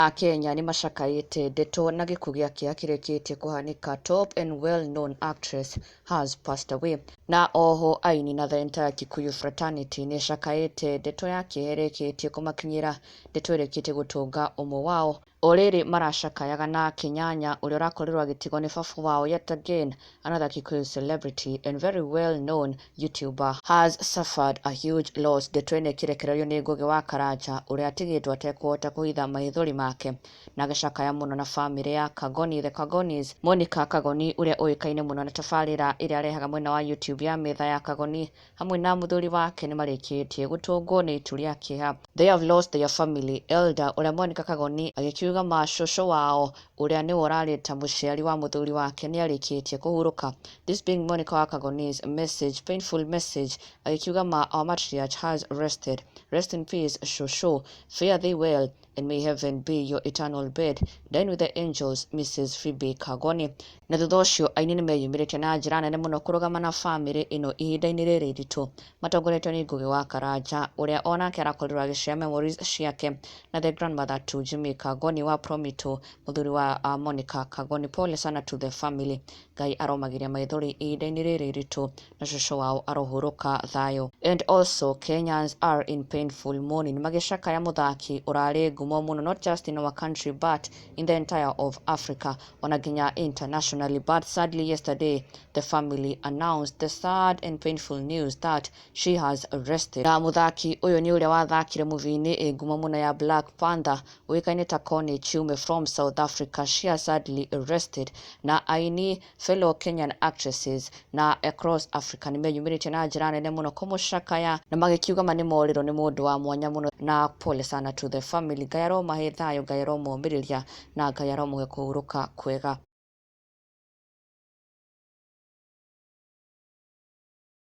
Akenya nĩmacakaĩte ndeto na gĩkuũ gĩakĩa kĩrĩkĩtie kũhanĩka Top and well known actress has passed away Na oho aini na the entire Kikuyu fraternity nĩcakaĩte ndeto ya kĩeha ĩrĩkĩtie kũmakinyĩra Ndeto ĩrĩkĩtie gũtũnga ũmwe wao O rĩrĩ maracakayaga na Kĩnyanya ũrĩa ũrakorirwo agĩtigwo nĩ baba wao yet again Another Kikuyu celebrity and very well known YouTuber has suffered a huge loss ndeto-inĩ ĩkĩrekererio nĩ Ngũgĩ wa Karanja ũrĩa atigĩtwo atekũhota kũhitha mahithori make na agĩcakaya mũno na famĩlĩ ya Kagoni the Kagonis. Monica Kagoni ũrĩa ũĩkaine mũno na tabarĩra ĩrĩa arehaga mwena wa YouTube ya Metha ya Kagoni hamwe na mũthuri wake nĩ marĩkĩtie gũtũngwo nĩ itu rĩa kĩeha. They have lost their family elder, ũrĩa Monica Kagoni agĩkiuga ma cũcũ wao ũrĩa nĩwe ũrarĩ ta mũciari wa mũthuri wake nĩ arĩkĩtie kũhurũka. This being Monica wa Kagoni's message, painful message, agĩkiuga ma our matriarch has rested. Rest in peace cũcũ. Fare thee well. And may heaven be your eternal bed, Dine with the angels, Mrs. Phoebe Kagoni. Na thutha ũcio aini nĩ meyumĩrĩtie na njĩra nene mũno kũrũgama na famĩlĩ ĩno ihinda-inĩ rĩrĩ iritũ matongoretio nĩ Ngugi wa Karanja ũrĩa o nake arakorirwo agĩcea memories ciake na the grandmother to Jimmy Kagoni wa Promito mũthuri wa uh, Monica Kagoni pole sana to the family Ngai aromagĩria maithori ihinda-inĩ rĩrĩ iritũ na cũcũ wao arohurũka thayũ. And also Kenyans are in painful mourning magĩcakaya mũthaki ũrarĩ ngumo mũno not just in our country but in the entire of Africa ona nginya internationally but sadly yesterday the family announced the sad and painful news that she has arrested na mũthaki ũyũ nĩ ũrĩa wathakire mũbini ĩ ngumo mũno ya Black Panther ũĩkaine ta Connie Chiume from South Africa she has sadly arrested na aini Fellow Kenyan Actresses na Across Africa nĩ meyumĩrĩtie na njĩra nene mũno kũmũcakaya na magĩkiuga ma nĩ morĩrwo nĩ mũndũ wa mwanya mũno na pole sana to the family Ngai aromahe thayũ Ngai aromomĩrĩria na Ngai aromũhe kũhurũka kwega